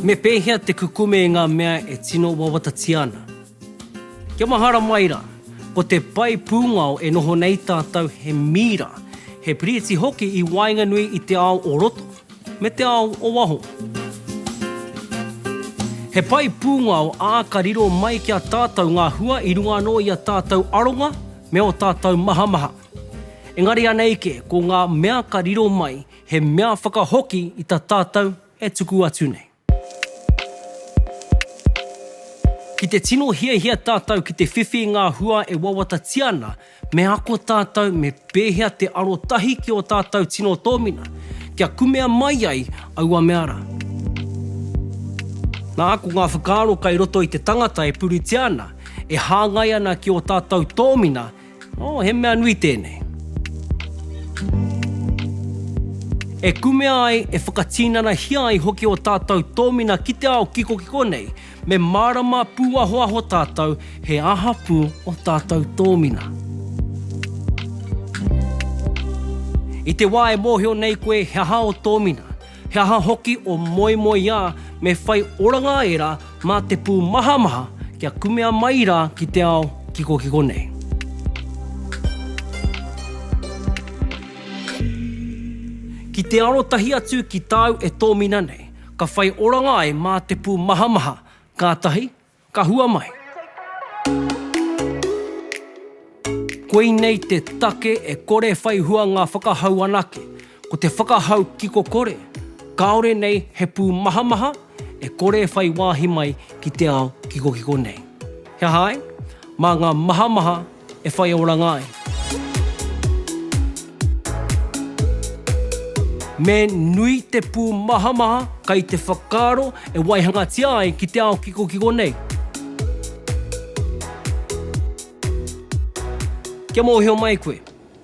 Me pēhea te kukume i ngā mea e tino wawatatia ana? Kia mahara mai rā, ko te pae pūngao e noho nei tātou he mīra, he piriti hoki i waenganui i te ao o roto. Me te ao o waho. He pae pūngao, ā, ka riro mai ki a tātou ngā hua i runga anō i a tātou aronga me ō tātou mahamaha. Engari anei kē, ko ngā mea ka riro mai, he mea whakahoki i ta tātou e tuku atu nei. Ki te tino hiahia tātou ki te whiwhi i ngā hua e wawatatia ana, me ako tātou me pēhea te arotahi ki ō tātou tino tōmina, kia kumea mai ai aua mea rā. Nā, ko ngā whakaaro kei roto i te tangata e puritia ana, e hāngai ana ki ō tātou tōmina, Oh, he mea nui tēnei. E kumea ai, e whakatīnanahia ai hoki ō tātou tōmina ki te ao kikokiko nei, me mārama pūahoaho tātou he aha pū ō tātou tōmina. I te wā e mōhio nei koe he aha ō tōmina, He aha hoki o moemoeā me whai oranga ai rā mā te pū mahamaha kia kumea mai rā ki te ao kikokiko nei. Ki te arotahi atu ki tāu e tōmina nei, ka whai oranga ai mā te pū mahamaha, kātahi, Ka hua mai. Koinei te take e kore whai hua ngā whakahau anake, ko te whakahau kiko kore, kāore nei he pūmahamaha e kore whai wāhi mai ki te ao kikokiko nei. He aha ai? Mā ngā mahamaha e whai oranga ai. Me nui te pūmahamaha kai te whakaaro e waihangatia ai ki te ao kikokiko nei. Kia mōhio mai koe,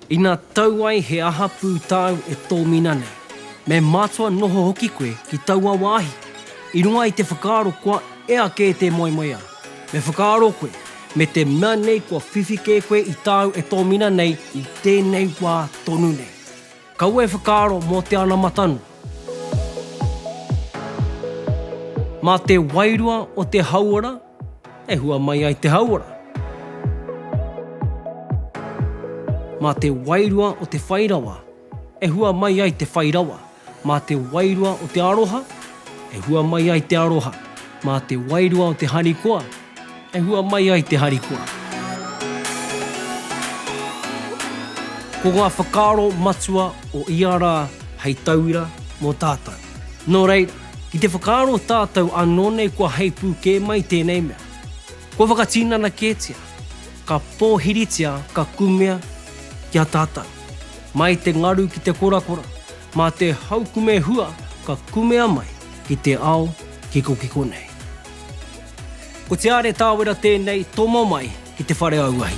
Ina tau ai he aha pū tāu e tōmina nei, me mātua noho hoki koe ki taua wāhi. I runga i te whakaaro kua ea kē tē moemoeā, me whakaaro koe, me te mea nei kua whiwhi kē koe i tāu e tōmina nei i tēnei wā tonu nei. Kaua e whakaaro mō te anamata noa. Mā te wairua o te hauora E hua mai ai te hauora. Mā te wairua o te whai rawa. E hua mai ai te whai rawa. Mā te wairua o te aroha. E hua mai ai te aroha. Mā te wairua o te harikoa. E hua mai ai te harikoa. Ko ngā whakaaro matua o ia rā hei tauira mō tātou. Nō rei, ki te whakaaro tātou anō nei kua heipū kē mai tēnei mea, kua whakatinana kētia, ka pōhiritia ka kumea ki a tātou. Mai te ngaru ki te korakora, mā te haukume hua ka kumea mai ki te ao kikokiko nei. Ko Te Are Tāwera tēnei tomo mai ki te whare auahi.